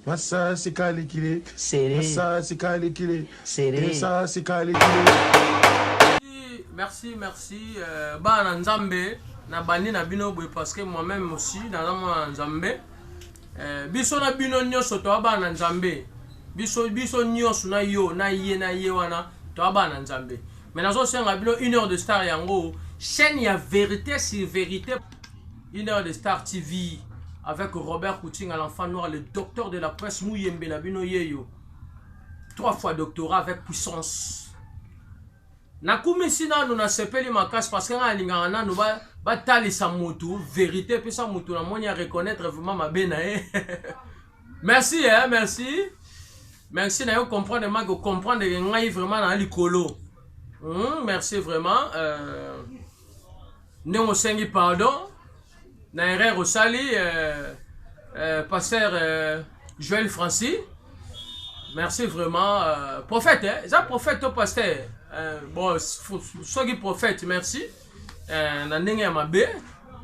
Masasi kalikile serré. Masasi kalikile serré. Masasi kalikile. Merci merci euh, bana nzambe na bandi na bino boye parce que moi même aussi naza mwana nzambe euh, biso na bino nyonso toa bana nzambe biso biso nyonso na yo na ye na ye wana toa bana nzambe mais nazosenga bino une heure de star yango chaîne ya vérité sur vérité Une heure de Star TV avec Robert Koutinga, l'enfant noir, le docteur de la presse, Mouyembe Nabino Yeyo. Trois fois doctorat avec puissance. nakumisi nanu nasepeli makasi parce que ngai alingaka nanu batalisa ba motu verité mpesa motu namoni ya reconnaître vraiment mabe na ye merci eh, merci merci nayo comprendre maki ocomprendre ke ngai vraiment na likolo mm, merci vraiment euh... ndenge osengi pardon na erreur osali euh, euh, pasteur euh, joel francis merci vraiment euh, prophète eh? eza prophète to pasteur euh, bon soki prophète merci euh, na ndenge ya mabe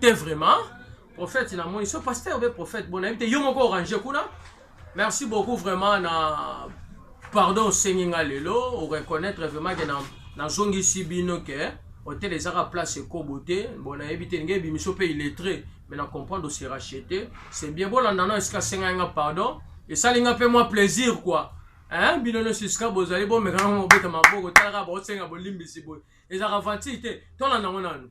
te vraiment Prophète na moni so pasteur be prophète bon nayebi te yo moko orange kuna merci beaucoup vraiment na pardon osengi nga lelo o reconnaître vraiment ke na nazongisi bino ke hotel ezaka place ekobo te bon nayebi te ndenge ebimiso mpe illettré mais na comprendre ose rachete c'est bien bolanda na esika asengai nga pardon esali nga mpe mwa plaisir quoi hein bino nyonso esika bozali bomeka nango mobeta maboko talaka baosenga bolimbisi boye ezalaka vantile te tolanda yango nanu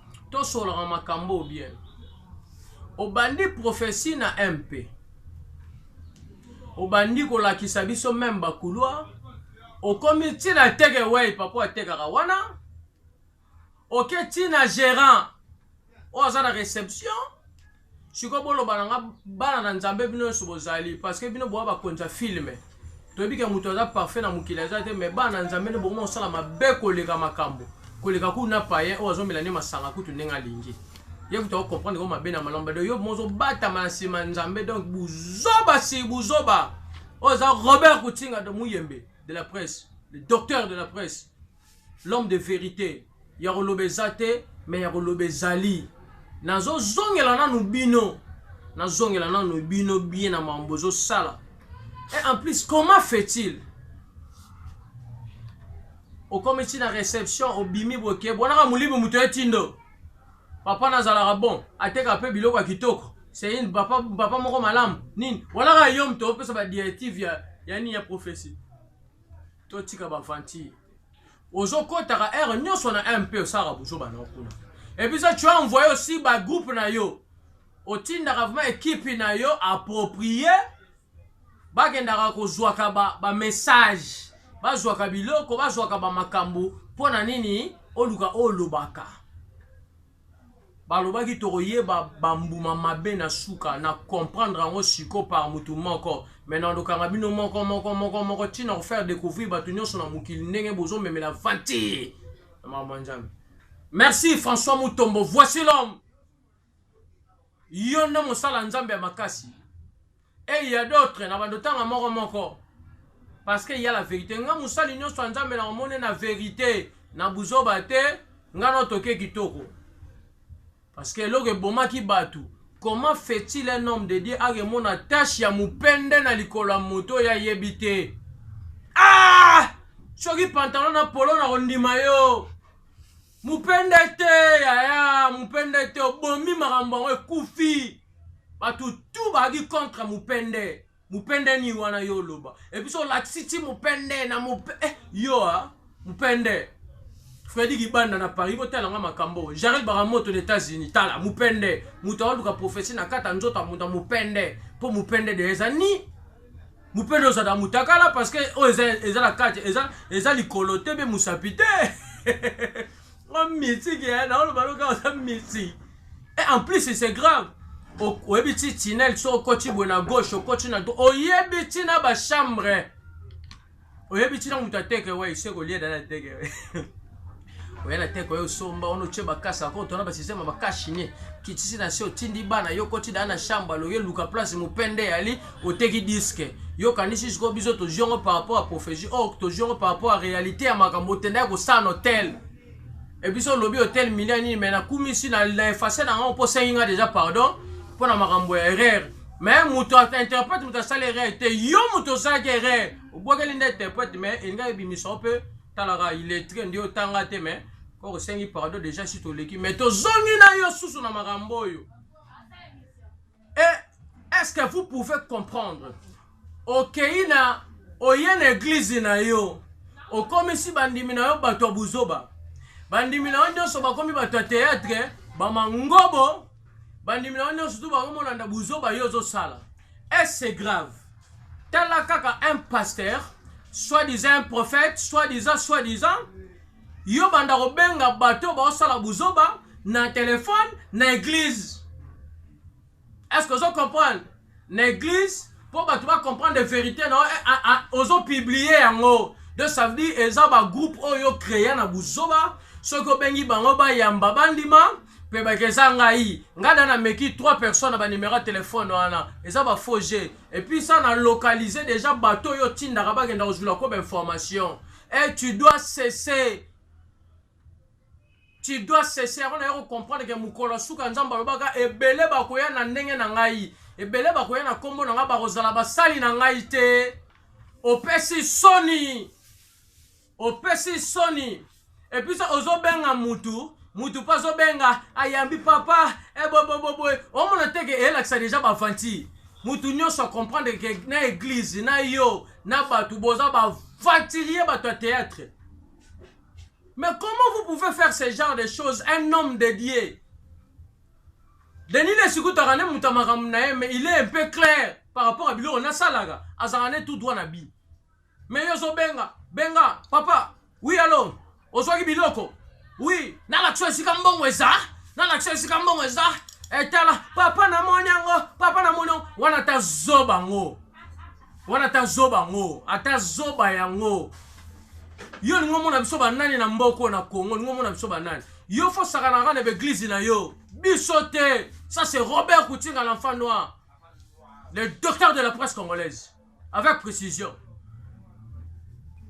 Tosololaka makambo oyo bien. Obandi prophetie na MP. Obandi kolakisa biso meme ba couloir. Okomi tina teke wey papa atekaka wana. Oke tina gerant oyo aza na reception. Sikoyo boloba na nga bana na Nzambe bino nyoso bozali parce que bino boa bakonzi ya film. Toyebi ke moto aza parfait na mokili aza te mais bana na Nzambe nde bokoma kosala mabe koleka makambo. Koleka kutu na païen oyo azomela nde masanga kutu ndenge alingi. Ye kutu ako comprendre ko mabe na malamu bado yo mozo batama na sima ya Nzambe donc buzoba si buzoba. Oyo aza Robert Kutinga de Muyembe de la presse, le docteur de la presse. L'homme de verite ya koloba eza te mais ya koloba ezali nazo zongela nanu bino nazongela nanu bino bien na mambo ezosala et en plus comment fait-il okomi ti na réception obimi boke bonaka molimo moto ye tindo papa nazalaka bon ateka mpe biloko ya kitoko seine papa, papa moko malamu nini bonaka yo moto opesa badirective ya, ya nini ya prophesie totika ba aventure ozokotaka heure nyonso na mp osalaka buzoba na kuna epuisa tu as envoye aussi ba groupe na yo otindaka vraimen ekipe na yo approprie bakendaka kozwaka bamessage ba bazwaka biloko bazwaka bamakambo mpo na nini oluka olobaka Balobaki tokoyeba ba mbuma mabe na suka, na comprendre yango siko par mutu moko. Maintenant dokanga bino moko moko moko moko ti na ko faire decouvrir batu nionso na mokili ndenge bozo memela ventille na makambo ya Nzambe. Merci François Mutombo, voici l'homme. Yo nde mosali ya Nzambe ya makasi. Et il ya d'autres na bando tanga moko moko parce que il ya la verite nga musali nionso ya nzambe na omone na verite na buzoba te nga no toke kitoko parce que eloko ebomaki batu comment fait-il un homme de Dieu akemona tache ya mupende na likolo ya moto ya yebi te ah soki pantalon na polo na kondima yo Mupende te yaya mupende te obomi makambo yango ekufi bato tu bazalaki contre mupende mupende nini wana yo oloba epuis olakisi ti mupende na mupe eh, yo a ah, mupende fredi kibanda na paris botala nga makambo jarel baramoto na états-unis tala mupende moto aoluka profesi na kata nzoto ya moto ya mupende mpo mupende de eza ni mupende oza na mutakala parce que oyo eza, eza na kati eza, eza likolo te mpe mosapi te o miti ke naoloba loka oza miti et en plus c'est grave oyebi ti tinel so okoti boye na gauche okoti na oyebi ti na bachambre oyebi ntina moto ateke wai se kolia dala ateke oya na teke oyo osomba wana otye bakasi ako otona basysteme bakasi nie kitisi na se otindi bana yo koti daa na chambre aloye luka place mopende yali oteki diske yo kanisi sikoyo biso tozwi yango par rapport ya prophésie or oh, tozwi yango par rapport ya réalité ya makambo otenda ya kosala na hotel ebiso olobi hotel milio nini mai nakumisi na efase na yango mpo osengi nga deja pardon mpo na makambo ya erreur mais moto interprète moto asali erreur te yo moto osalaki erreur obwakeli nde interprète mais elingi ebimisa yo mpe talaka iletre nde otanga te mais koko osengi pardon déjà si toleki mais tozongi na yo susu na makambo oyo et est-ce que vous pouvez comprendre okei na oye na eglize na yo okomisi bandimi na yo bato ya buzoba bandimi na yo nyonso bakomi bato ya teyatre bamangobo bandimi na yo nyonso tu bango molanda buzoba yo ozosala ese grave tala kaka un pasteur soit disant un prophète soit disant soit disant yo banda kobenga bato baosala buzoba na telefone na eglize est ce que ozo comprendre na eglise po bato ba comprendre verite na yo ozo publie yango de ça veut dire eza ba groupe oyo crea na buzoba soki obengi bango bayamba bandima mpe bake eza ngai ngai da nameki 3 personnes na banimero ya telefone wana eza bafaux jeu epuis sa na localise deja bato oyo otindaka bakenda kozwila ko bainformation e tu dois cesser Tu dois cesser yango naye ko comprendre ke mokolo ya suka Nzambe alobaka ebele bakoya na ndenge na ngai ebele bakoya na kombo na ngai bakozala basali na ngai te opesi soni opesi soni epuis ozobenga mutu mutu mpe azobenga ayambi papa eboboboboe eh, omona te ke elakisa deja bavanti mutu nyonso acomprendre ke na eglize na yo na bato boza bavantilie bato ya théâtre Mais comment vous pouvez faire ce genre de choses un homme de Dieu Denis Lesikutaka ne muta makambo na ye mais il est un peu clair par rapport à biloko nasalaka azalaka ne tout droit na bi mais yo ozobenga benga papa oui alo ozwaki biloko oui nalakisa esika mbongo eza nalakisa esika mbongo eza etala papa namoni yango papa namoni yango wana ta zoba ngo Wana ata zoba yango, ata zoba yango. Yo lingo mona biso ba nani na mboko na Congo, lingo mona biso ba nani. Yo fo sakana kana be église na yo. Biso te. Ça c'est Robert Koutinga l'enfant noir. Le docteur de la presse congolaise. Avec précision.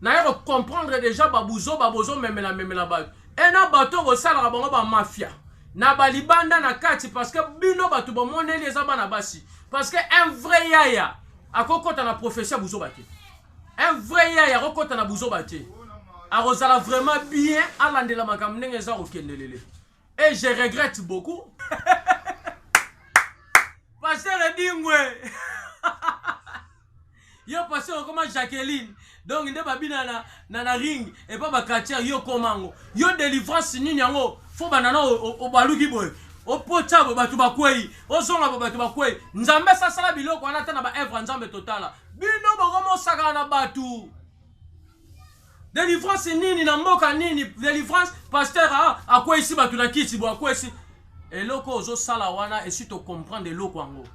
Naye comprendre déjà babuzo babozo memela memela ba. Et na bato ko sala bango ba mafia. Na balibanda na kati parce que bino bato bomoneli eza bana basi. parce que un vrai yaya akokota na profession ya buzoba te un vrai yaya akokota na buzoba te akozala vraiment bien alandela makambo ndenge eza kokendelele et je regrette beaucoup pasteur edingwe Yo pasteur okoma Jacqueline donc nde babina na, na, na ring epa ba catcher yo koma yango yo delivrance nini yango fo banda na obaluki boye opotya bo bato bakwei ozonga bo bato bakwei nzambe asasala biloko wana ata na baevre ya nzambe totala bino bokomosakana na bato Delivrance nini na mboka nini? Delivrance pasteur a akwesi bato na kiti bo akwesi eloko ozosala wana esi tocomprendre eloko yango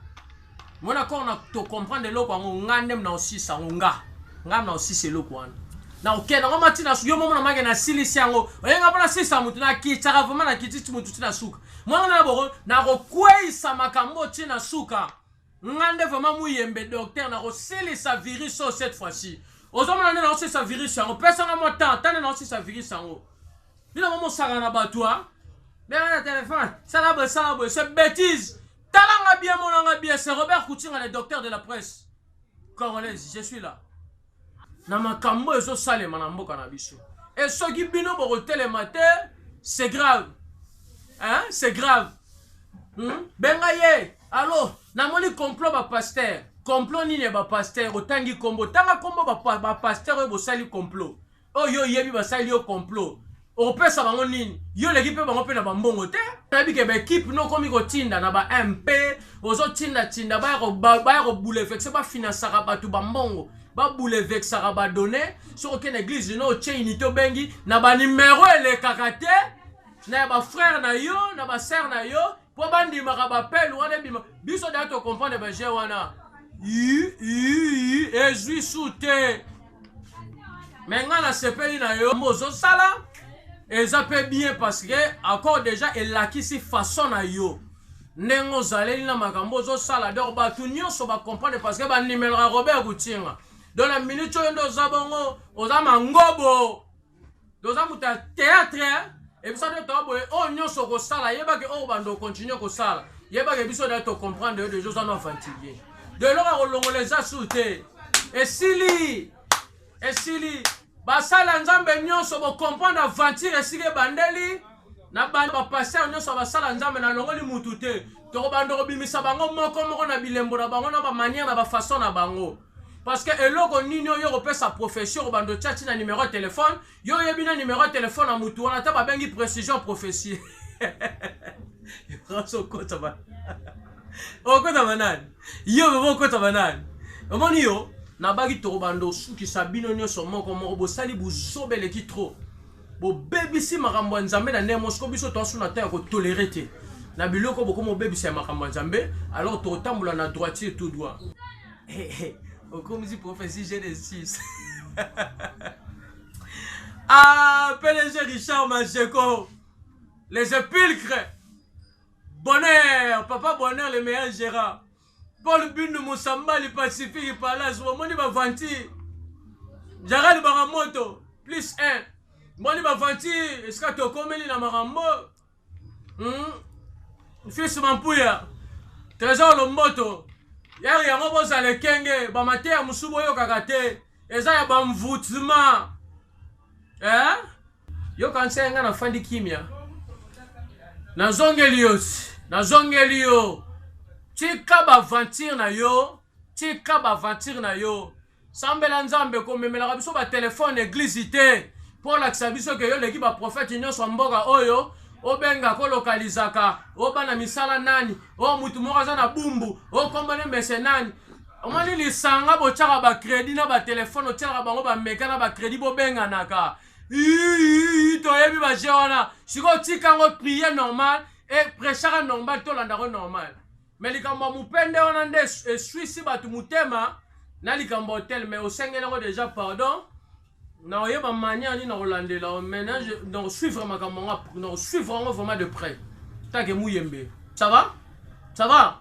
mona kor na tocomprendre eloko yango nga nde mna osisa yango nga nga mna osisa eloko wana na okenda ngo mati na yo momo na make nasilisi yango oyenga mpo nasisa motu nakitaka vraimen nakitisi motu ti na suka mwana na boko nakokweyisa makambo ti na suka Nga nde vraiment muyembe docteur na kosilisa virus oyo cette fois ci ozomona nde nakosilisa virus yango pesa nga mwa temps tande nakosilisa virus yango bino mo mosaka na bato a benga na telefone sala boye sala boye se bétise tala nga bien mona nga bien se robert kutinga le docteur de la presse congolaise je suis là na makambo ezo salema na mboka na biso et soki bino boko telema te c'est grave hein c'est grave hmm? benga ye allo namoni complot ba pasteur complot nini ya ba pasteur otangi kombo tanga kombo ba, ba pasteur oyo bosali complot oyo yo oyebi basali yo complot opesa bango nini yo oleki mpe bango mpe na bambongo te nayebi ke baekipe no okomi kotinda na ba mp ozotindatinda baya kobulefexe bafinansaka bato bambongo babulevexaka badone soki okende eglise no otye unité obengi na banimero elekaka te na ya bafrere na yo na basere na yo po bandimaka bapele wana ebima biso da tocomprendre baje wana ezwi su te me ngai nasepeli na yo ozosala eza mpe bien parce que accord déjà elakisi façon na yo ndenge ozaleli na makambo ozosala donc bato nyonso bacomprendre parce que bandimelaka robert kutinga donc na minute oyo nde oza bongo oza mangobo toza moto ya teatre ebisa nde toa boye oyo nyonso okosala yebake oyo banda okontinue kosala yebake biso naye tocomprendre yo deja oza no aventurier de eloko ya kolongola eza sur te esili esili basala nzambe nyonso bocomprendre aventure esika ebandeli Na banda ba pasteur nionso basala nzambe na longoli mutu te toko banda kobimisa bango moko moko na bilembo na bango na ba manière na ba façon na bango parce que eloko nini oyo okopesa prophetie okobanda otiati na numero ya telefone yo oyebi na numero ya telefone na mutu wana ata babengi précision prophetie okota banani yo bebo okota banani omoni yo nabaki tokobanda osukisa bino nyonso moko moko bosali buzoba eleki trop Bobebisi makambo ya Nzambe na ndenge moko biso toasu na temps ya kotolere te na biloko bokomi obebisa ya makambo ya Nzambe alors tokotambola na droitier tout droit okomisi prophetie Genesis ah PDG Richard Majeko les épulcres bonheur papa bonheur le meilleur gérard Paul Bindu Musambali Pacifique Palace bomoni ba vanti Jaral Baramoto plus 1 bomoni ba vanti esika tokomeli na makambo hmm? Fils Mampuya Trésor Lomboto yari yango bozala ekenge bamateya mosusu boyokaka te eza ya bamvutima eh? Yo kanisa ye nga na fandi kimia na zongeli yo na zongeli yo tika ba aventure na yo tika ba aventure na yo sambela nzambe komemelaka biso ba telefone eglise te mpo olakisa biso ke yo oleki ba profete nyonso ya mboka oyo obenga kolokalizaka obana misala nani o mutu moko aza na bumbu okombone mese nani omoni lisanga botyaka bakredi na batelefone otyelaka bango bameka na bakredi bobenganaka iiiii toyebi baje wana sikoyo tika yango priye normal e prechaka normal tolandako normal me likambo ya mopende wana nde eswisi bato motema na likambo ya hotel me osengeli yango deja pardon na oyeba manière nini nakolandela menage na kosuivre makambo yango na kosuivre yango vraiment de près take muyembe ça va ça va